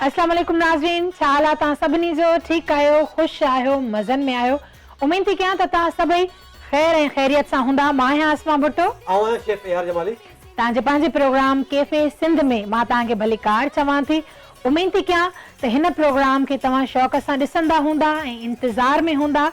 اسلام عليڪم ناظرين ڇا حال آ تان سڀني جو ٺيڪ آهيو خوش آهيو مزن ۾ آهيو اميد ٿي ڪيان ته تان سڀئي خير ۽ خيريت سان هوندا مان آهيان اسما ڀٽو. آئون آهيان شيف اي آر جمالي. توهان جي پنهنجي پروگرام ڪيفي سنڌ ۾ مان توهان کي ڀلي ڪار چوان ٿي. اميد ٿي ڪيان ته هن پروگرام کي توهان شوق سان ڏسندا هوندا ۽ انتظار ۾ هوندا.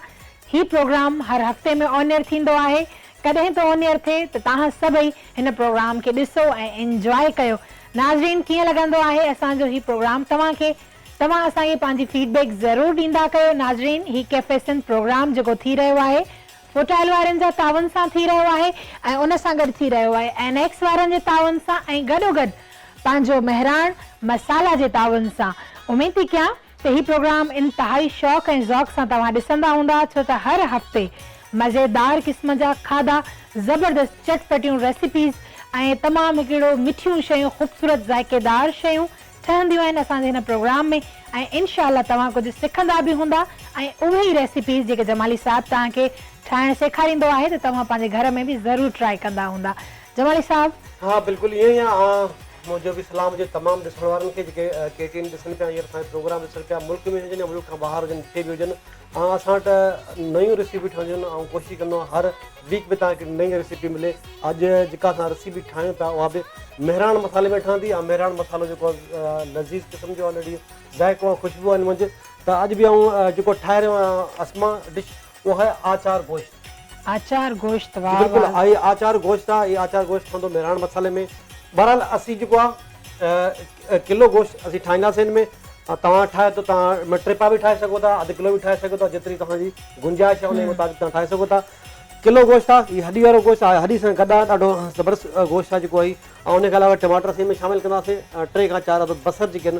هي پروگرام هر هفتي ۾ آن ايئر ٿيندو آهي. ڪڏهن به آن ايئر ٿئي ته توهان سڀئي هن پروگرام کي ڏسو ۽ انجواء ڪيو. ناظرين ڪيئن لڳندو آهي اسان جو هي پروگرام توهان کي؟ توهان اسان کي پنهنجي فيڊ بيڪ ضرور ڏيندا ڪيو. ناظرين هي ڪيفي سنڌ پروگرام جيڪو ٿي رهيو آهي. هوٽائل وارن جا تعاون سان ٿي رهيو آهي ۽ ان سان گڏ ٿي رهيو آهي اين ايڪس وارن جي تعاون سان ۽ گڏوگڏ پنهنجو مهراڻ مصالحه جي تعاون سان اميد ٿي ڪيان ته هي پروگرام انتهائي شوق ۽ ذوق سان توهان ڏسندا هوندا ڇو ته هر هفتي مزيدار قسم جا کاڌا زبردست چٽ پٽيون ريسيپيز ۽ تمام هڪڙو مٺيون شيون خوبصورت ذائقيدار شيون ٺهنديون آهن اسان جي هن پروگرام ۾ ۽ انشاء الله توهان ڪجهه سکندا به هوندا ۽ اهي ئي ريسيپيز جيڪي جمالي صاحب توهان کي ٺاهڻ سيکاريندو آهي ته توهان پنهنجي گهر ۾ به ضرور ٽرائي ڪندا هوندا جمالي صاحب. ها بلڪل ائين ئي آ ها منهنجو به سلام هجي تمام ڏسڻ وارن کي جيڪي ڪي ٽي اين ڏسن پيا هينئر اسان جو پروگرام ڏسن پيا ملڪ ۾ هجن يا ملڪ کان ٻاهر هجن جتي به هجن. ۽ اسان وٽ نيون ريسيپيون ٺهنديون آهن آئون ڪوشش ڪندو آهيان هر ويڪ ۾ تهان کي نئي ريسيپي ملي اڄ جيڪا اسان ريسيپي ٺاهيون ٿا اها به مهراڻ مصالحي ۾ ٺهندي ۽ مهراڻ مصالحو جيڪو آهي لذيذ قسم جو آلريڊي ذائقو ۽ خوشبو آهن منجهه ته اڄ به آئون جيڪو ٺاهي رهيو آهيان اسما ڊش اها آهي آچار گوشت آچار گوشت جي واه بلڪل واه. اھي آچار گوشت آ اھي آچار گوشت ٺھندو مھراڻ مصالحي ۾ بھرحال اسين جيڪو آ ڪلو گوشت اسين ٺاھينداسين ان ۾ توھان ٺاھيو ته توھان ٽي پاء به ٺاھي سگھو ٿا اڌ ڪلو به ٺاھي سگھو ٿا جيتري توھان جي گنجائش آ انھي مطابق توھان ٺاھي سگھو ٿا ڪلو گوشت آ ھي ھڏي وارو گوشت آ ھڏي سان گڏ آ ڏاڍو زبردست گوشت آ جيڪو اھي ۽ ان کان علاوه ٽماٽر اسين ان ۾ شامل ڪنداسين ٽي کان چار عدد بصر جيڪي آھن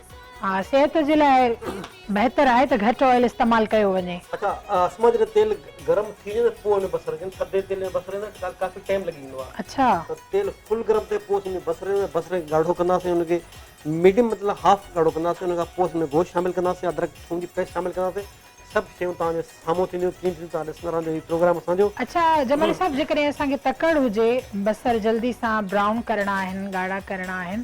ها صحت جي لاء بهتر آهي ته گهٽ آئل استعمال ڪيو وڃي. اڇا اسما جڏهن تيل گرم ٿي وڃي ته پوء ان بصر کي ٿڌي تيل ۾ بصري ۾ ڪافي ٽيم لڳي ويندو آهي اڇا ته تيل فل گرم ٿئي پوء اسين بصري ۾ بصر کي ڳاڙهو ڪنداسين ان کي ميڊيم مطلب هاف ڳاڙهو ڪنداسين ان کان پوء اسين ۾ گوشت شامل ڪنداسين ادرڪ ٿوم جي پيسٽ شامل ڪنداسين سڀ شيون توهان جي سامهون ٿينديون ڪيئن ٿينديون توهان ڏسندا رهندو هي پروگرام اسان جو. اڇا جمالي صاحب جيڪڏهن اسان کي تڪڙ هجي بصر جلدي سان برائون ڪرڻا آهن ڳاڙها ڪرڻا آهن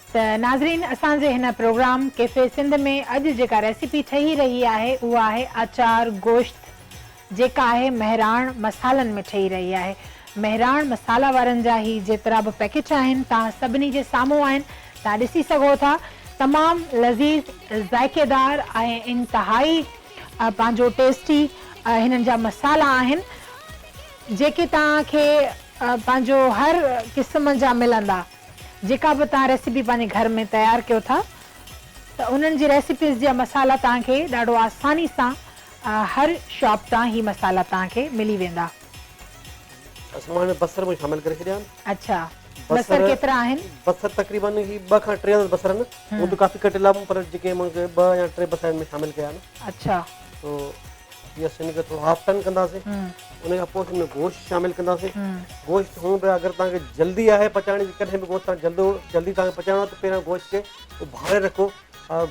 ته ناظرين اسان جي هن پروگرام ڪيفي سنڌ ۾ اڄ جيڪا ريسيپي ٺهي رهي آهي اها آهي آچار گوشت جيڪا آهي مهراڻ مصالحن ۾ ٺهي رهي آهي مهراڻ مصالحه وارن جا هي جيترا به پيڪيٽ آهن توهان سڀني جي سامهون آهن توهان ڏسي سگهو ٿا تمام لذيذ ذائقيدار ۽ انتهائي پنهنجو ٽيسٽي هنن جا مصالحا آهن جيڪي توهان کي پنهنجو هر قسم جا ملندا. جيڪا به توهان ريسيپي پنهنجي گهر ۾ تيار ڪيو ٿا ته انهن جي ريسيپيز جا مصالحا توهان کي ڏاڍو آساني سان هر شاپ تان هي مصالحا توهان کي ملي ويندا. اسان ماڻهن ۾ بصر به شامل ڪري ڇڏيا آهن. اڇا بصر ڪيترا آهن. بصر تقريبا هي ٻه کان ٽي عدد بصر آهن. هون ته ڪافي ڪٽيل آهن پر جيڪي مون کي ٻه يا ٽي بصر آهن ۾ شامل ڪيا آهن. اڇا. تو جي اسين ان کي ٿورو هاف ٽرن ڪنداسين ان کان پوء اسين ان ۾ گوشت شامل ڪنداسين گوشت هون به اگر توهان کي جلدي آهي پچائڻ جي ڪڏهن به گوشت توهان جلدو جلدي توهان کي پچائڻو آهي ته پهريان گوشت کي اڀاري رکو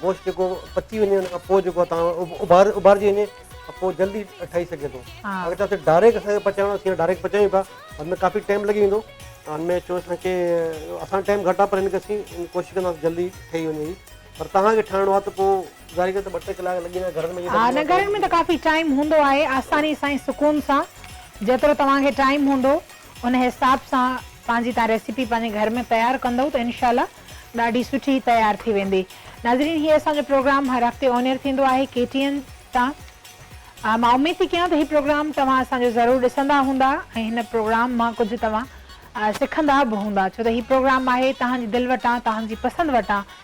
گوشت جيڪو پچي وڃي ان کان پوء جيڪو توهان اڀار اڀارجي وڃي ته پوء جلدي ٺهي سگهي ٿو اگر چاهيو ته ڊائريڪٽ اسان کي پچائڻو اسين ڊائريڪٽ پچايون پيا ان ۾ ڪافي ٽائم لڳي ويندو ان ۾ چون اسان کي اسان ٽائم گهٽ آهي پر ان کي اسين ڪوشش ڪنداسين جلدي ٺهي وڃي پر توهان کي ٺاهڻو آهي ته پوء گذاري ڪري ته ٻه ٽي ڪلاڪ لڳي ويندا گهرن ۾ ائين ها نه گهرن ۾ ته ڪافي ٽائيم هوندو آهي آساني سان ۽ سڪون سان جيترو توهان کي ٽائيم هوندو ان حساب سان پنهنجي تان ريسيپي پنهنجي گهر ۾ تيار ڪندو ته انشاء الله ڏاڍي سٺي تيار ٿي ويندي ناظرين هي اسان جو پروگرام هر هفتي آن ايئر ٿيندو آهي ڪي ٽي اين تان مان اميد ٿي ڪيان ته هي پروگرام توهان اسان جو ضرور ڏسندا هوندا ۽ هن پروگرام مان ڪجهه توهان سکندا به هوندا ڇو ته هي پروگرام آهي توهان جي دل وٽان توهان جي پسند وٽان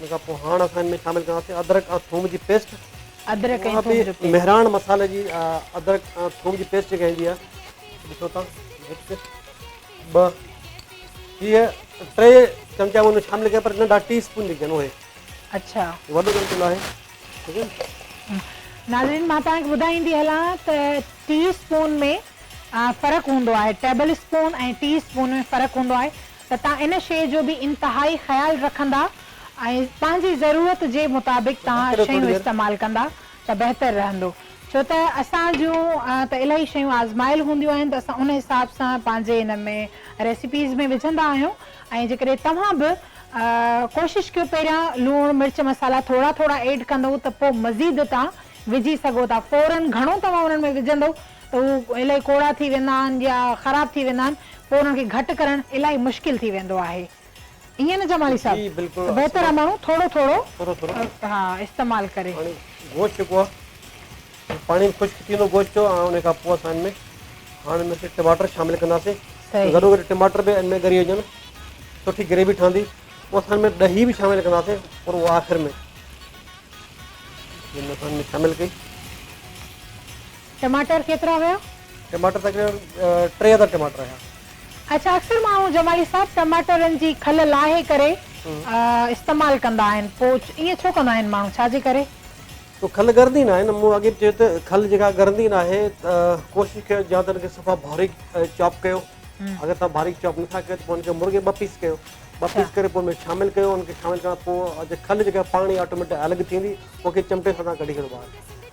ان کان پوء هاڻ اسان ان ۾ شامل ڪنداسين ادرڪ ۽ ٿوم جي پيسٽ. ادرڪ ۽ ٿوم جو پيسٽ. مهراڻ مصالحي جي ادرڪ ۽ ٿوم جي پيسٽ جيڪا ايندي آهي ڏسو تان هڪ ٻه هيء ٽي چمچا ان ۾ شامل ڪيا پر ننڍا ٽي اسپون جيڪي آهن اهي. اڇا. وڏو چمچو ناهي ٺيڪ آهي. ناظرين مان توهان کي ٻڌائيندي هلان ته ٽي اسپون ۾ فرق هوندو آهي ٽيبل اسپون ۽ ٽي اسپون ۾ فرق هوندو آهي. ته تان ان شيء جو به انتهائي خيال رکندا ۽ پنهنجي ضرورت جي مطابق تان شيون استعمال ڪندا ته بهتر رهندو ڇو ته اسان جون ته الائي شيون آزمايل هونديون آهن ته اسان ان حساب سان پنهنجي ان ۾ ريسيپيز ۾ وجهندا آهيون ۽ جيڪڏهن توهان به ڪوشش ڪيو پهريان لوڻ مرچ مصالحا ٿورا ٿورا ايڊ ڪندئو ته پوء مزيد تان وجهي سگهو ٿا فورن گهڻو توهان انهن ۾ وجهندئو ته هو الائي ڪوڙا ٿي ويندا آهن يا خراب ٿي ويندا آهن پوء انهن کي گهٽ ڪرڻ الائي مشڪل ٿي ويندو آهي ائين نه جمالي جي صاحب بلڪل ته بهتر آهي ماڻهو ٿورو ٿورو ٿورو ٿورو ها استعمال ڪري. پاڻي گوشت جيڪو آهي اهو پاڻي ۾ خشڪ ٿي ويندو گوشت جو ۽ ان کان پوء اسان ان ۾ هاڻ ان ۾ ٽماٽر شامل ڪنداسين ته صحيح ضرور ٽماٽر به ان ۾ ڳري وڃن سٺي گريوي ٺهندي پوء اسان ان ۾ ڏهي به شامل ڪنداسين پر اهو آخر ۾ جن اسان ان ۾ شامل ڪئي ٽماٽر ڪيترا هيا؟ ٽماٽر تقريبن ٽي هزار ٽماٽر هيا. اڇا اڪثر ماڻهو جمالي صاحب ٽماٽرن جي کل لاهي ڪري استعمال ڪندا آهن پوء ائين ڇو ڪندا آهن ماڻهو ڇا جي ڪري؟ تو کل ڳرندي ناهي نه مون اڳي به چيو ته کل جيڪا ڳرندي ناهي ته ڪوشش ڪيو يا ته ان کي صفا باريڪ چاپ ڪيو اگر تان باريڪ چاپ نٿا ڪيو ته پوء ان کي مرغي ٻه پيس ڪيو ٻه پيس ڪري پوء ميچ شامل ڪيو ان کي شامل ڪرڻ کان پوء کل جيڪا پاڻ ئي آٽوميٽڪ الڳ ٿيندي پوء کي چمٽي سان تان ڪڍي ڇڏو ٻاهر.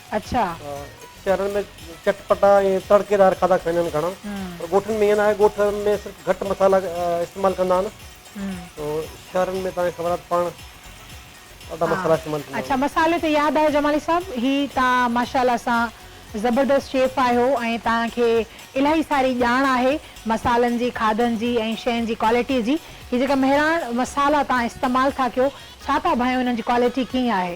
اڇا. شهرن ۾ چٽ پٽا ۽ تڙڪي دار کاڌا کائيندا آهن گهڻا پر ڳوٺن ۾ ائين ناهي ڳوٺ ۾ صرف گهٽ مصالحا استعمال ڪندا آهن شهرن ۾ توهان کي خبر آهي ته پاڻ ڏاڍا مصالحا استعمال ٿيندا آهن. اڇا مصالحي تي ياد آيو جمالي صاحب هي توهان ماشاءالله سان زبردست شيف آهيو ۽ توهان کي الاهي ساري ڄاڻ آهي مصالحن جي کاڌن جي ۽ شين جي ڪوالٽي جي هي جيڪا مهراڻ مصالحا توهان استعمال ٿا ڪيو ڇا ٿا ڀانيو انهن جي ڪوالٽي ڪيئن آهي.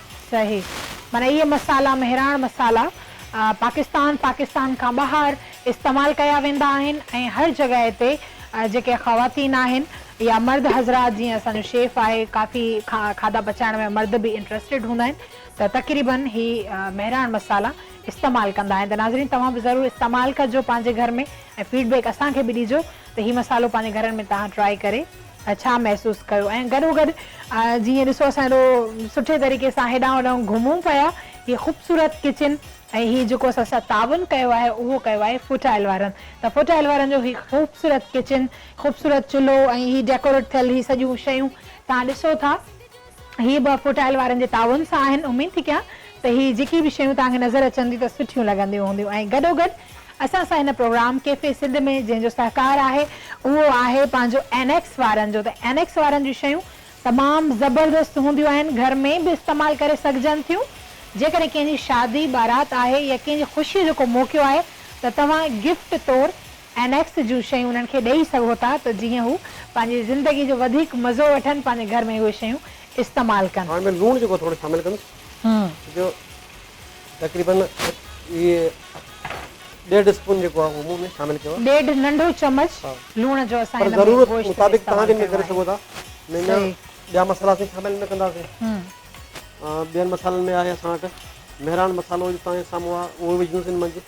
صحيح معنيٰ اهي مصالحا مهراڻ مصالحا پاڪستان پاڪستان کان ٻاهر استعمال ڪيا ويندا آهن ۽ هر جڳهه تي جيڪي خواتين آهن يا مرد حضرات جيئن اسان جو شيف آهي ڪافي کاڌا پچائڻ ۾ مرد به انٽرسٽيڊ هوندا آهن ته تقريباً هي مهراڻ مصالحا استعمال ڪندا آهن ته ناظرين توهان به ضرور استعمال ڪجو پنهنجي گهر ۾ ۽ فيڊ بيڪ اسان کي به ڏيجو ته هي مصالحو پنهنجي گهرن ۾ توهان ٽرائي ڪري ڇا محسوس ڪيو ۽ گڏوگڏ جيئن ڏسو اسان ايڏو سٺي طريقي سان هيڏانهن هوڏانهن گهمون پيا هي خوبصورت ڪچن ۽ هي جيڪو اسان سان تعاون ڪيو آهي اهو ڪيو آهي فوڊ ٽرائل وارن ته فوڊ ٽرائل وارن جو هي خوبصورت ڪچن خوبصورت چلهو ۽ هي ڊيڪوريٽ ٿيل هي سڄيون شيون تهان ڏسو ٿا هي به افو ٽائل وارن جي تعاون سان آهن، اميد ٿي ڪيان ته هي جيڪي به شيون توهان کي نظر اچن ٿيون ته سٺيون لڳنديون هونديون ۽ گڏو گڏ اسان سان هن پروگرام ڪيفي سنڌ ۾ جنهن جو سهڪار آهي اهو آهي پنهنجو اين ايڪس وارن جو ته اين ايڪس وارن جون شيون تمام زبردست هونديون آهن گهر ۾ به استعمال ڪري سگهجن ٿيون جيڪڏهن ڪنهن جي شادي بارات آهي يا ڪنهن جي خوشي جو ڪو موقعو آهي ته توهان گفٽ طور اين ايفس جون شيون انهن کي ڏئي سگهو ٿا ته جيئن هو پنهنجي زندگي جو وڌيڪ مزو وٺن پنهنجي گهر ۾ اهي شيون استعمال ڪن. هاڻ ۾ لوڻ جيڪو ٿورو شامل ڪندس جو تقريبن هي ڏيڍ اسپون جيڪو آهي اهو مون ۾ شامل ڪيو آهي. ڏيڍ ننڍو چمچ لوڻ جو اسان هن ۾ گوشت ۾ استعمال ڪيو آهي. سگهو ٿا ۾ اڃا ٻيا مصالحا اسين شامل نه ڪنداسين ٻين مصالحن ۾ آهي اسان وٽ مهراڻ مصالحو جو تهان جي سامهون آهي اهو وجهندس ان منجهه.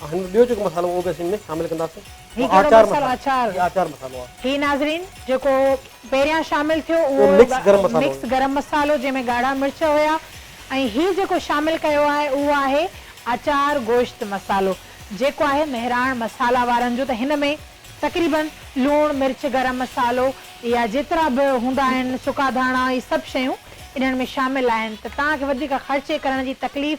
هن ۾ ٻيو جيڪو مصالحو اهو به اسين ۾ شامل ڪنداسين هي گرم آچار مصالحو آچار هي آچار مصالحو آهي. هي ناظرين جيڪو پهريان شامل ٿيو اهو اهو مڪس گرم مصالحو مڪس گرم مصالحو جنهن ۾ ڳاڙها مرچ هيا ۽ هي جيڪو شامل ڪيو آهي اهو آهي آچار گوشت مصالحو جيڪو آهي مهراڻ مصالحه وارن جو ته هن ۾ تقريباً لوڻ مرچ گرم مصالحو يا جيترا به هوندا آهن سڪا ڌاڻا هي سڀ شيون انهن ۾ شامل آهن ته توهان کي وڌيڪ خرچي ڪرڻ جي تڪليف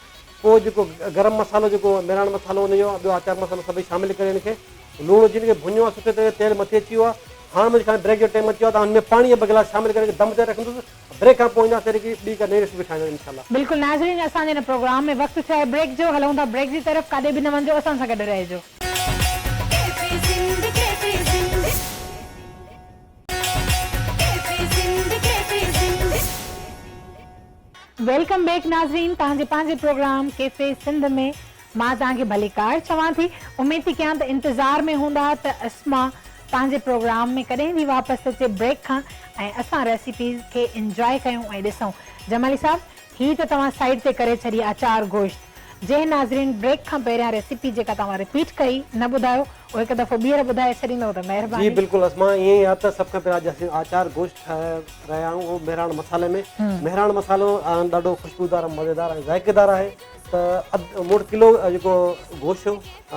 پوء جيڪو گرم مصالحو جيڪو ميراڻ مصالحو ان جو ٻيو آچار مصالحو سڀئي شامل ڪري ان کي لوڻ وجھي ان کي ڀڃو ۽ سٺي طرح تيل مٿي اچي ويو آهي هاڻ منهنجي خيال ۾ بريڪ جو ٽيم اچي ويو آهي ته هن ۾ پاڻي ٻه گلاس شامل ڪري دم تي رکندس بريڪ کان پوء اينداسين وري ٻي ڪا نئين ريسيپي کائڻ انشاء الله. بلڪل ناظرين اسان جي هن پروگرام ۾ وقت ٿيو آهي بريڪ جو هلون ٿا بريڪ جي طرف ڪاڏي به نه وڃجو اسان سان گڏ رهجو. ويلڪم بيڪ ناظرين توهان جي پنهنجي پروگرام ڪيفي سنڌ ۾ مان توهان کي ڀليڪار چوان ٿي اميد ٿي ڪيان ته انتظار ۾ هوندا ته اسما پنهنجي پروگرام ۾ ڪڏهن ٿي واپس اچي بريڪ کان ۽ اسان ريسيپيز کي انجوائي ڪيون ۽ ڏسون جمالي صاحب هي ته توهان سائيڊ تي ڪري ڇڏي آچار گوشت جنهن ناظرين بريڪ کان پهريان ريسيپي جيڪا توهان رپيٽ ڪئي نه ٻڌايو او هڪ دفعو ٻيهر ٻڌائي ڇڏيندؤ ته مهرباني. جي بلڪل اسما ائين ئي آ ته سڀ کان پهريان اڄ اسين آچار گوشت ٺاهي رهيا آهيون اهو مهراڻ مصالحي ۾ مهراڻ مصالحو ڏاڍو خوشبودار ۽ مزيدار ۽ ذائقيدار آهي ته اڌ مڙ ڪلو جيڪو گوشت هو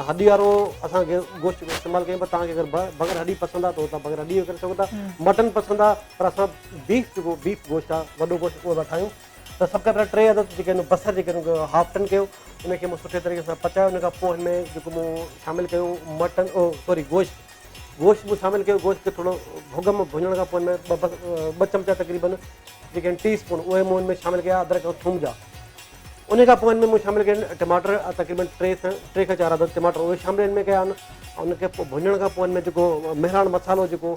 هڏي وارو اسان کي گوشت استعمال ڪيون پر توهان کي اگر بغير هڏي پسند آ ته بغير هڏي ڪري سگهو ٿا مٽن پسند آ پر اسان بيف جيڪو بيف گوشت آ وڏو گوشت اهو ٿا ٺاهيون ته سڀ کان پهريان ٽي عدد جيڪي آهن بصر جيڪي آهن ان کي هاف ٽن ڪيو ان کي مون سٺي طريقي سان پچايو ان کان پوء هن ۾ جيڪو مون شامل ڪيو مٽن او سوري گوشت گوشت مون شامل ڪيو گوشت کي ٿورو ڀڳ ۾ ڀڃڻ کان پوء ۾ ٻه ٻه چمچا تقريبن جيڪي آهن ٽي اسپون اهي مون هن ۾ شامل ڪيا ادرک ۽ ٿوم جا ان کان پوء ۾ مون شامل ڪيا آهن ٽماٽر تقريبن ٽي کان ٽي کان چار عدد ٽماٽر اهي شامل هن ۾ ڪيا آهن ان کي ڀڃڻ کان پوء ۾ جيڪو مهراڻ مصالحو جيڪو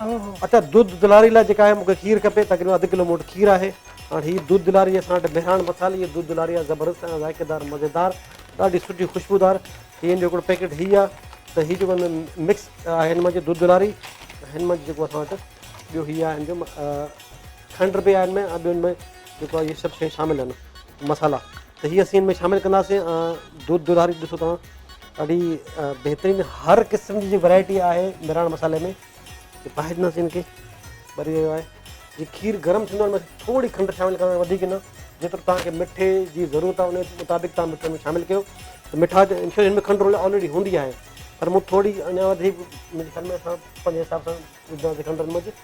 اوهو. اچا دود دلاري لاء جيڪا آهي مون کي کير کپي تقريبن اڌ ڪلو مون وٽ کير آهي هاڻ هي دود دلاري اسان وٽ مهراڻ مصالي جي دود دلاري آهي زبردست ۽ ذائقي دار مزيدار ڏاڍي سٺي خوشبودار هي ان جو هڪڙو پيڪيٽ هي آهي ته هي جيڪو مڪس آهي هن منجهه دود دلاري هن منجهه جيڪو اسان وٽ ٻيو هي آهي ان جو کنڊ به آهي ان ۾ ۽ ٻيو ان ۾ جيڪو آهي هي سڀ شيون شامل آهن مصالحا ته هي اسين ان ۾ شامل ڪنداسين دود دوداري ڏسو توهان ڏاڍي بهترين هر قسم جي ورائٽي آهي مراڻ مصالحي ۾ باهه ڏناسين ان کي ٻري ويو آهي جي کير گرم ٿيندو ان ۾ ٿوري کنڊ شامل ڪرڻ وڌيڪ نه جيترو توهان کي مٺي جي ضرورت آهي ان مطابق توهان مٺي ۾ شامل ڪيو ته مٺا ان ۾ کنڊ آلريڊي هوندي آهي پر مون ٿوري اڃا وڌيڪ منهنجي خيال ۾ اسان پنهنجي حساب سان ٻڌا سڪندڙن موجب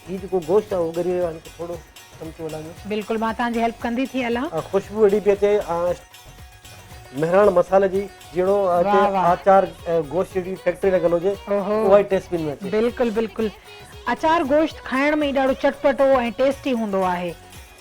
هي جيڪو گوشت آهي اهو ڳري ويو آهي هن کي ٿورو چمچو هلائيندو. بلڪل مان توهان جي هيلپ ڪندي ٿي هلان. خوشبو اهڙي پئي اچي مهراڻ مصالحي جي جهڙو هتي آچار گوشت جهڙي فيڪٽري لڳل هجي اها ئي ٽيسٽ پئي ۾ اچي. بلڪل بلڪل اچار گوشت کائڻ ۾ ئي ڏاڍو چٽپٽو ۽ ٽيسٽي هوندو آهي.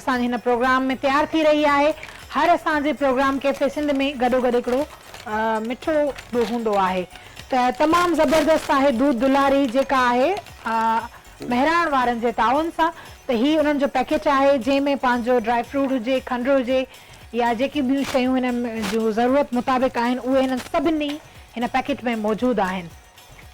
اسان جي هن پروگرام ۾ تيار ٿي رهي آهي هر اسان جي پروگرام ڪيفي سنڌ ۾ گڏو گڏ هڪڙو مٺو به هوندو آهي ته تمام زبردست آهي دود دلاري جيڪا آهي مهراڻ وارن جي تعاون سان ته هي انهن جو پيڪيٽ آهي جنهن ۾ پنهنجو ڊرائي فروٽ هجي کنڊ هجي يا جيڪي ٻيون شيون هن جون ضرورت مطابق آهن اهي هنن سڀني هن پيڪيٽ ۾ موجود آهن.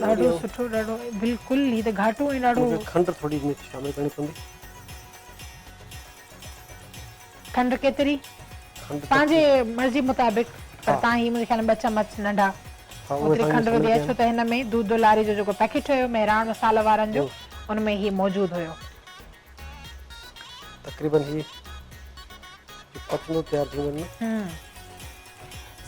ڏاڍو سٺو ڏاڍو بلڪل هي ته گهاٽو ۽ ڏاڍو کنڊ ٿوري مٺي شامل ڪرڻي پوندي کنڊ ڪيتري پنهنجي مرضي مطابق پر تان هي منهنجي خيال ۾ ٻه چمچ ننڍا اوتري کنڊ وڌي اچو ته هن ۾ دودو لاري جو جيڪو پيڪيٽ هيو مهراڻ مسالا وارن جو ان ۾ هي موجود هيو تقريبن جي پتلون تيار ٿيون وڃن ھمم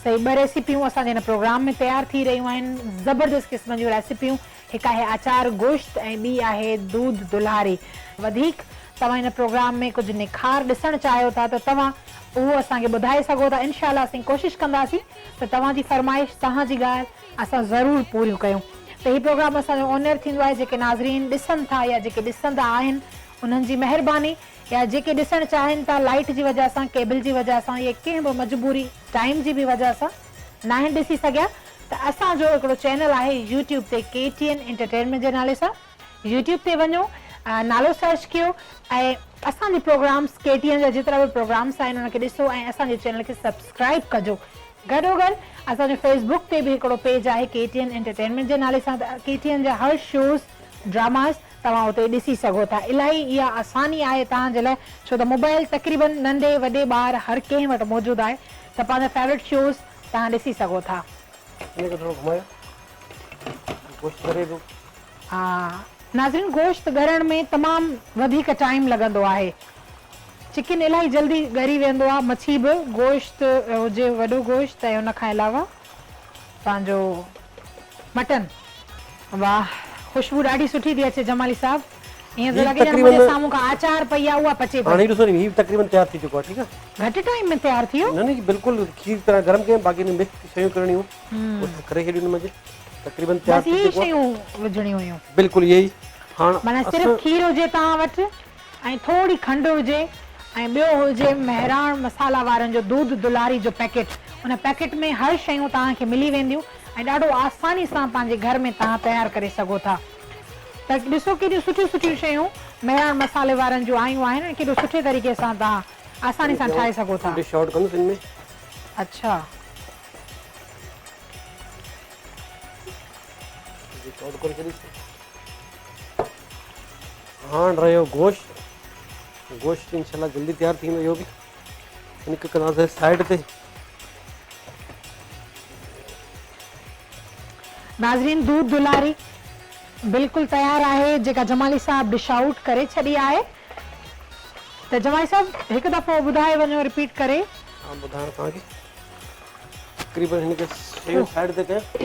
صحيح ٻه ريسيپيون اسان جي ھن پروگرام ۾ تيار ٿي رھيون آھن زبردست قسم جون ريسيپيون ھڪ آھي آچار گوشت ۽ ٻي آھي دود دلھاري وڌيڪ توھان ھن پروگرام ۾ ڪجھ نکار ڏسڻ چاھيو ٿا ته توھان اھو اسان کي ٻڌائي سگھو ٿا انشاء الله اسين ڪوشش ڪنداسين ته توھان جي فرمائش توھان جي ڳالھ اسان ضرور پوريون ڪيون ته هي پروگرام اسان جو اونيئر ٿيندو آهي جيڪي ناظرين ڏسن ٿا يا جيڪي ڏسندا آهن انهن جي مهرباني يا جيڪي ڏسڻ چاهين ٿا لائيٽ جي وجه سان ڪيبل جي وجه سان يا ڪنهن به مجبوري ٽائيم جي به وجه سان ناهن ڏسي سگهيا ته اسان جو هڪڙو چينل آهي يوٽيوب تي ڪي ٽي اين انٽرٽينمينٽ جي نالي سان يوٽيوب تي وڃو نالو سرچ ڪيو ۽ اسان جي پروگرامس ڪي ٽي اين جا جيترا به پروگرامس آهن ان کي ڏسو ۽ اسان جي چينل کي سبسڪرائب ڪجو گڏو گڏ اسان جو فيس بڪ تي به هڪڙو پيج آهي ڪي ٽي اين انٽرٽينمينٽ جي نالي سان ڪي ٽي اين جا هر شوز ڊراماز توهان اتي ڏسي سگهو ٿا الاهي اها آساني آهي توهان جي لاء ڇو ته موبائل تقريبن ننڍي وڏي ٻار هر ڪنهن وٽ موجود آهي ته پنهنجا فيورٽ شوز توهان ڏسي سگهو ٿا. گوشت ڳري پيو. ناظرين گوشت ڳرڻ ۾ تمام وڌيڪ ٽائيم لڳندو آهي. چڪن الاهي جلدي ڳري ويندو آهي مڇي به گوشت هجي وڏو گوشت ۽ ان کان علاوه پنهنجو مٽن. واه خوشبو ڏاڍي سٺي ٿي اچي جمالي صاحب ايئن ٿو لڳي ڄڻ منهنجي سامهون ڪا آچار پئي آهي اها پچي پئي. هاڻي ڏسو ني هي به تقريبن تيار ٿي چڪو آهي ٺيڪ آهي. گهٽ ٽائيم ۾ تيار ٿي ويو. نه نه جي بلڪل کير طرح گرم ڪيم باقي ان ۾ مڪس شيون ڪرڻيون. اهو ٿڪ رهي هيڏيون منجهه تقريبن تيار ٿي چڪو آهي بلڪل اهي ئي هاڻ اسان ۽ ٿوري کنڊ هجي ۽ ٻيو هجي مهراڻ مصالحه وارن جو دود دلاري جو پيڪيٽ ان پيڪيٽ ۾ هر شيون توهان کي ملي وينديون ۽ ڏاڍو آساني سان پنهنجي گهر ۾ توهان تيار ڪري سگهو ٿا ته ڏسو ڪيڏيون سٺيون سٺيون شيون مهراڻ مصالحه وارن جون آيون آهن ۽ ڪيڏو سٺي طريقي سان توهان آساني سان ٺاهي سگهو ٿا اڇا هاڻ رهيو گوشت گوشت انشاء الله جلدي تيار ٿي ويندو اهو به ان کي ڪنداسين سائيڊ تي ناظرين دودھ دلاري بلڪل تيار آهي جيڪا جمالي صاحب ڊش آئوٽ ڪري ڇڏي آهي ته جمالي صاحب هڪ دفعو ٻڌائي وڃو رپيٽ ڪري ها ٻڌايان ٿو تقريبن هن کي شيء سائيڊ تي ڪيو ته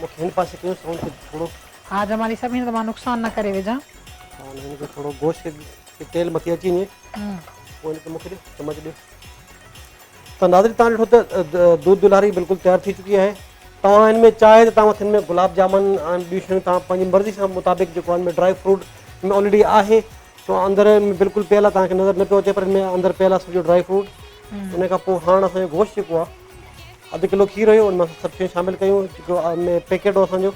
مون کي هن پاسي ڪيو سائونڊ کي ٿورو ها جمالي صاحب هن ته مان نقصان نه ڪري وجهان. هاڻي هن کي ٿورو گوشت کي جي تيل مٿي اچي وڃي پوء هن کي مون کي ڏيو چمچ ڏيو ته ناظرين تان ڏٺو ته دودھ دلاري بلڪل تيار ٿي چڪي آهي توهان هن ۾ چاهي ته توهان هن ۾ گلاب جامن ۽ ٻيون شيون توهان پنهنجي مرضي سان مطابق جيڪو هن ۾ ڊرائي فروٽ ۾ آلريڊي آهي سو اندر ۾ بلڪل پيلا توهان کي نظر نه پيو اچي پر ان ۾ اندر پيل آهي سڄو ڊرائي فروٽ ان کان پوء هاڻ اسان جو گوشت جيڪو آهي اڌ ڪلو کير هيو ان مان سڀ شيون شامل ڪيون جيڪو ان ۾ پيڪيٽ هو اسان جو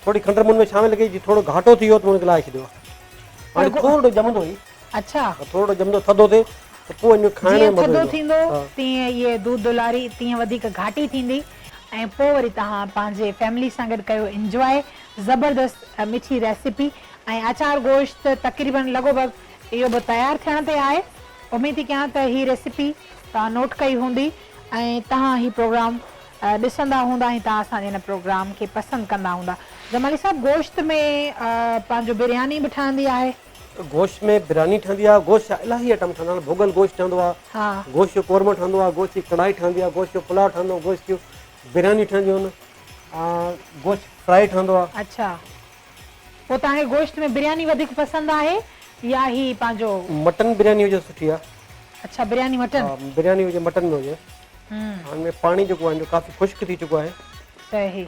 ٿوري کنڊ مون ۾ شامل ڪئي جي ٿورو گهاٽو ٿي ويو ته ان کي لاهي ڇڏيو آهي هاڻي ٿورڙو ڄمندو هي اڇا ٿورڙو ڄمندو ٿڌو ٿي ته پوء ان جو کائڻ ۾ مزو ايندو جيئن ٿڌو ٿيندو تيئن هي دودھ دولاري تيئن وڌيڪ گهاٽي ٿيندي ۽ پوء وري توهان پنهنجي فيملي سان گڏ ڪيو انجواء زبردست مٺي ريسيپي ۽ اچار گوشت تقريبن لڳو ڀڳ اهو به تيار ٿيڻ تي آهي. اميد ٿي ڪيان ته هي ريسيپي توهان نوٽ ڪئي هوندي ۽ توهان هي پروگرام ڏسندا هوندا ۽ توهان اسان جي هن پروگرام کي پسند ڪندا هوندا. جمالي صاحب گوشت ۾ پنهنجو برياني به ٺهندي آهي. گوشت ۾ برياني ٺهندي آهي، گوشت جا الاهي آئٽم ٺهندا آهن، ڀوڳل گوشت ٺهندو آهي، گوشت جو قورمو ٺهندو آهي، گوشت جي ڪڙهائي ٺهندي آهي، گوشت جو پلاء ٺهندو، گوشت جون بريانيون ٺهنديون آهن، گوشت فرائي ٺهندو آهي. پوء توهان کي گوشت ۾ برياني وڌيڪ پسند آهي يا هي پنهنجو. مٽن برياني هجي سٺي آ. اڇا برياني مٽن. ها برياني هجي مٽن ۾ هجي. هن ۾ پاڻي جيڪو آهي جو ڪافي خشڪ ٿي چڪو آهي. صحيح.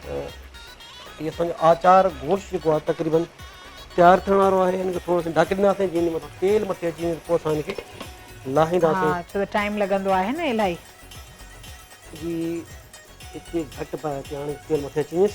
هي اسان جو آچار گوشت جيڪو آهي تقريبن تيار ٿيڻ وارو آهي هن کي ٿورو سين ڍڪي ڏينداسين جيئن هن مٿان تيل مٿي اچي وڃي پوء اسان هن کي لاهينداسين. ها ڇو ته ٽائيم لڳندو آهي نه الائي. جي هتي گهٽ باهه تي هاڻي تيل مٿي اچي وڃيس.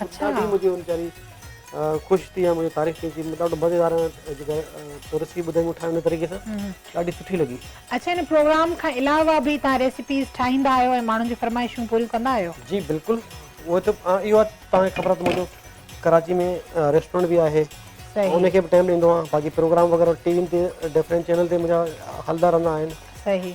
اچھا ڏاڍي مجھي ان جاري خوش ٿي مجھي تاريخ ٿي ڏاڍو مزيدار جيڪا تو رسي ٻڌائي مون ٺاهي ان طريقي سان ڏاڍي سٺي لڳي اچھا ان پروگرام کان علاوه به تان ريسيپيز ٺاهيندا آهيو ۽ ماڻهن جون فرمائشون پوريون ڪندا آهيو جي بلڪل اهو ته اهو تان کي خبر ته منهنجو ڪراچي ۾ ريسٽورنٽ به آهي ان کي به ٽائيم ڏيندو آهي باقي پروگرام وغيره ٽي وين تي ڊفرنٽ چينل تي منهنجا هلدا رهندا آهن صحيح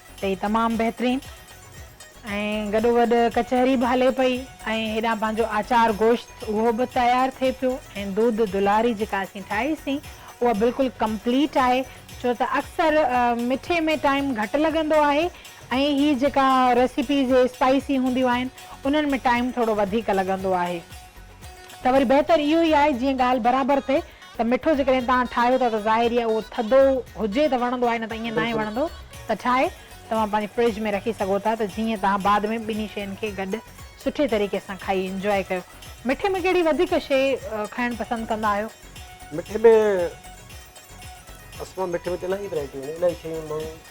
تي تمام بهترين ۽ گڏوگڏ ڪچهري به هلي پئي ۽ هيڏانهن پنهنجو آچار گوشت اهو به تيار ٿئي پيو ۽ دود دلاري جيڪا اسين ٺاهي سين اها بلڪل ڪمپليٽ آهي ڇو ته اڪثر مٺي ۾ ٽائيم گهٽ لڳندو آهي ۽ هي جيڪا ريسيپيز اسپائسي هونديون آهن انهن ۾ ٽائيم ٿورو وڌيڪ لڳندو آهي. ته وري بهتر اهو ئي آهي جيئن ڳالهه برابر ٿئي ته مٺو جيڪڏهن توهان ٺاهيو ٿا ته ظاهر ئي آهي اهو ٿڌو هجي ته وڻندو آهي نه ته ائين ناهي وڻندو ته ٺاهي توهان پنهنجي فرج ۾ رکي سگهو ٿا ته جيئن توهان بعد ۾ ٻنهي شين کي گڏ سٺي طريقي سان کائي انجواء ڪيو. مٺي ۾ ڪهڙي وڌيڪ شي کائڻ پسند ڪندا آهيو؟ مٺي ۾ اسان مٺي ۾ ته الاهي ورائٽيون آهن الاهي شيون ماڻهو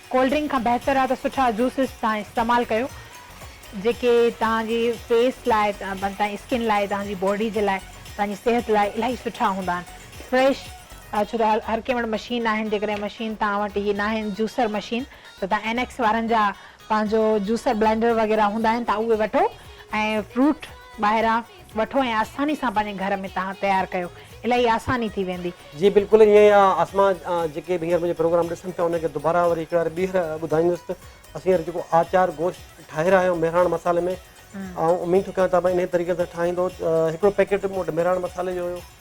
ڪولڊ ڊرنڪ کان بهتر آهي ته سٺا جوسز توهان استعمال ڪيو جيڪي توهان جي فيس لاء توهان جي اسڪن لاء توهان جي باڊي جي لاء توهان جي صحت لاء الاهي سٺا هوندا آهن فريش ڇو ته هر ڪنهن وٽ مشين ناهن جيڪڏهن مشين توهان وٽ اهي ناهن جوسر مشين ته توهان اين ايڪس وارن جا پنهنجو جوسر بلينڊر وغيره هوندا آهن توهان اهي وٺو ۽ فروٽ ٻاهران وٺو ۽ آساني سان پنهنجي گهر ۾ تهان تيار ڪيو الاهي آساني ٿي ويندي. جي بلڪل ائين ئي آ اسما جيڪي به هينئر منهنجو پروگرام ڏسن پيا انهن کي دوباره وري هڪڙي واري ٻيهر ٻڌائيندس ته اسين هينئر جيڪو آچار گوشت ٺاهي رهيا آهيون مهراڻ مصالحي ۾ آئون اميد ٿو ڪيان ته انهيء طريقي سان ٺاهيندو هڪڙو پيڪيٽ مون وٽ مهراڻ مصالحي جو هيو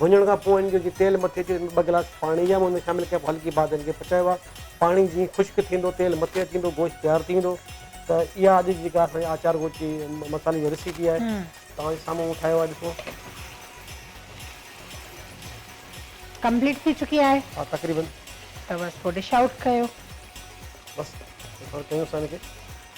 ڀڃڻ کان پوء ان جو جي تيل مٿي اچي ان ۾ ٻه گلاس پاڻي جا ان ۾ شامل ڪيا پوء هلڪي باهه تي ان کي پچائبو آهي پاڻي جيئن خشڪ ٿيندو تيل مٿي اچي ويندو گوشت تيار ٿي ويندو ته اها اڄ جي جيڪا اسان جي آچار گوشت جي مصالحي جي ريسيپي آهي توهان جي سامهون مون ٺاهيو آهي ڏسو ڪمپليٽ ٿي چڪي آهي ها تقريبن ته بس پوء ڊش آئوٽ ڪيو بس هاڻي ڪيون اسان ان کي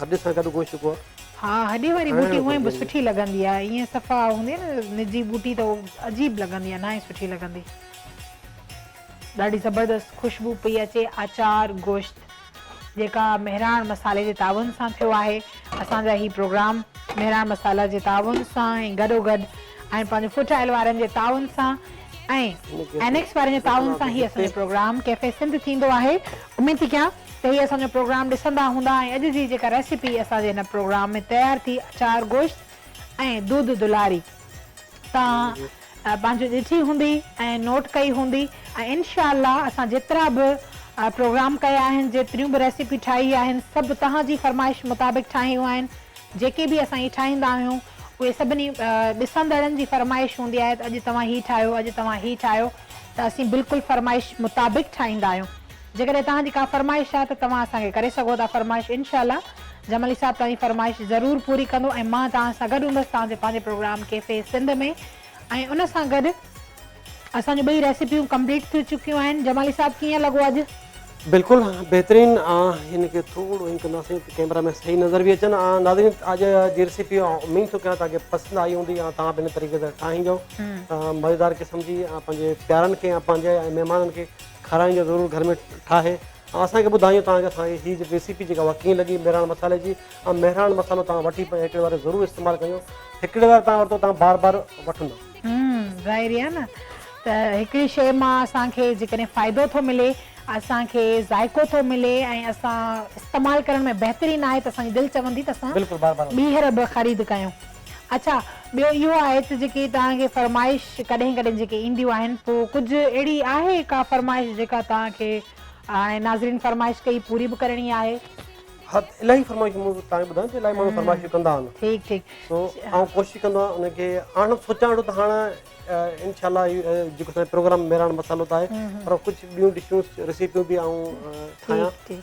هڏ سان گڏ گوشت پوء. ها هڏي واري ٻوٽي هونئن به سٺي لڳندي آهي ائين صفا هوندي نه نجي ٻوٽي ته عجيب لڳندي آهي ناهي سٺي لڳندي. ڏاڍي زبردست خوشبو پئي اچي آچار گوشت جيڪا مهراڻ مصالحي جي تعاون سان ٿيو آهي اسان جا هي پروگرام مهراڻ مصالحه جي تعاون سان ۽ گڏو گڏ ۽ پنهنجو فوڊ آئل وارن جي تعاون سان ۽ اينڪس وارن جي تعاون سان هي اسان جو پروگرام ڪيفي سنڌ ٿيندو آهي اميد ٿي ڪيان تهي اسان جو پروگرام ڏسندا هوندا ۽ اڄ جي جيڪا ريسيپي اسان جي هن پروگرام ۾ تيار ٿي اچار گوشت ۽ دودھ دلاري توهان پنهنجو ڏٺي هوندي ۽ نوٽ ڪئي هوندي ۽ انشاء الله اسان جيترا به پروگرام ڪيا آهن جيتريون به ريسيپي ٺاهي آهن سڀ توهان جي فرمائش مطابق ٺاهيون آهن جيڪي به اسان هي ٺاهيندا آهيون اهي سڀني ڏسندڙن جي فرمائش هوندي آهي ته اڄ توهان هي ٺاهيو اڄ توهان هي ٺاهيو ته اسين بلڪل فرمائش مطابق ٺاهيندا آهيون. جيڪڏهن توهان جي ڪا فرمائش آهي ته توهان اسان کي ڪري سگهو ٿا فرمائش انشاء الله جمالي صاحب توهان جي فرمائش ضرور پوري ڪندو ۽ مان توهان سان گڏ هوندس توهان جي پنهنجي پروگرام ڪيفي سنڌ ۾ ۽ ان سان گڏ اسان جون ٻئي ريسيپيون ڪمپليٽ ٿي چڪيون آهن جمالي صاحب ڪيئن لڳو اڄ. بلڪل بهترين هن کي ٿورو هين ڪنداسين ته ڪيمرا ۾ صحيح نظر به اچن ناظرين اڄ جي ريسيپي اميد ٿو ڪيان توهان کي پسند آئي هوندي ۽ توهان به هن طريقي سان ٺاهيندو مزيدار قسم جي پنهنجي پيارن کي پنهنجي مهمانن کي کارائينديو ضرور گهر ۾ ٺاهي ۽ اسان کي ٻڌائيو توهان کي اسان جي هي ريسيپي جيڪا اها ڪيئن لڳي مهراڻ مصالحي جي ۽ مهراڻ مصالحو توهان وٺي پوء هڪڙي واري ضرور استعمال ڪيو هڪڙي واري توهان ورتو توهان بار بار وٺندا. هم ظاهري آهي نه ته هڪڙي شي مان اسان کي جيڪڏهن فائدو ٿو ملي اسان کي ذائقو ٿو ملي ۽ اسان استعمال ڪرڻ ۾ بهترين آهي ته اسان جي دل چوندي ته اسان ٻيهر به خريد ڪيون. اڇا ٻيو اهو آهي ته جيڪي توهان کي فرمائش ڪڏهن ڪڏهن جيڪي اينديون آهن پوء ڪجهه اهڙي آهي ڪا فرمائش جيڪا توهان کي هاڻي ناظرين فرمائش ڪئي پوري به ڪرڻي آهي. ها الاهي فرمائشون مون توهان کي ٻڌايون ته الاهي ماڻهو فرمائشون ڪندا آهن. ٺيڪ ٺيڪ. سو آئون ڪوشش ڪندو آهيان ان کي آڻڻ سوچان ويٺو ته هاڻ انشاء الله جيڪو اسان جو پروگرام مهراڻ مصالحو ته آهي پر ڪجهه ٻيون ڊشون ريسيپيون به آئون ٺاهيان. ٺيڪ ٺيڪ.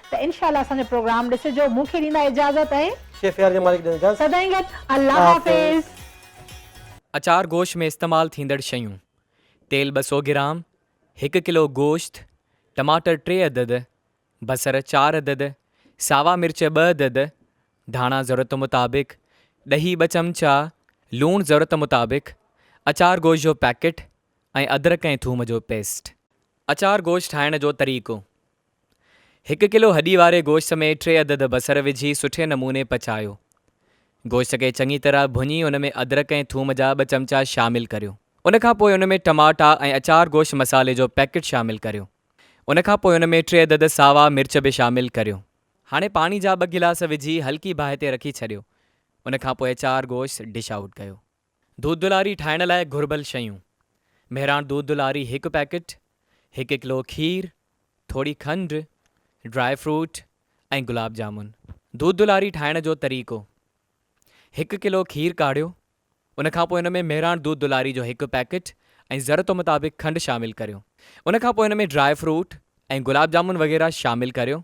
ته انشاء الله اسان جو پروگرام ڏسجو مون کي ڏيندا اجازت ۽. شيف يار جي مالڪ ڏين اجازت. سدائين گڏ الله حافظ. اچار گوشت ۾ استعمال ٿيندڙ شيون، تيل ٻه سؤ گرام، هڪ ڪلو گوشت، ٽماٽر ٽي عدد، بصر چار عدد، ساوا مرچ ٻه عدد، ڌاڻا ضرورت مطابق، ڏهي ٻه چمچا، لوڻ ضرورت مطابق، اچار گوشت جو پيڪٽ ۽ ادرڪ ۽ ٿوم جو پيسٽ. اچار گوشت ٺاهڻ جو طريقو. هڪ ڪلو هڏي واري گوشت ۾ ٽي عدد بصر وجهي سٺي نموني پچايو. گوشت کي چڱي طرح ڀڃي ان ۾ ادرڪ ۽ ٿوم جا ٻه چمچا شامل ڪريو. ان کان پوء ان ۾ ٽماٽا ۽ اچار گوشت مصالحي جو پيڪٽ شامل ڪريو. ان کان پوء ان ۾ ٽي عدد ساوا مرچ به شامل ڪريو. هاڻي پاڻي جا ٻه گلاس وجهي هلڪي باهه تي رکي ڇڏيو. ان کان پوء اچار گوشت ڊش آئوٽ ڪيو. دودلاري ٺاهڻ لاء گهربل شيون، مهراڻ دودلاري هڪ پيڪٽ، هڪ ڪلو کير، ٿوري کنڊ، ڊرائي فروٽ ۽ گلاب جامن. دودلاري ٺاهڻ جو طريقو، هڪ ڪلو کير ڪاڙهيو، ان کان پوء ان ۾ مهراڻ دودلاري جو هڪ پيڪٽ ۽ ضرورت مطابق کنڊ شامل ڪريو، ان کان پوء ان ۾ ڊرائي فروٽ ۽ گلاب جامن وغيره شامل ڪريو،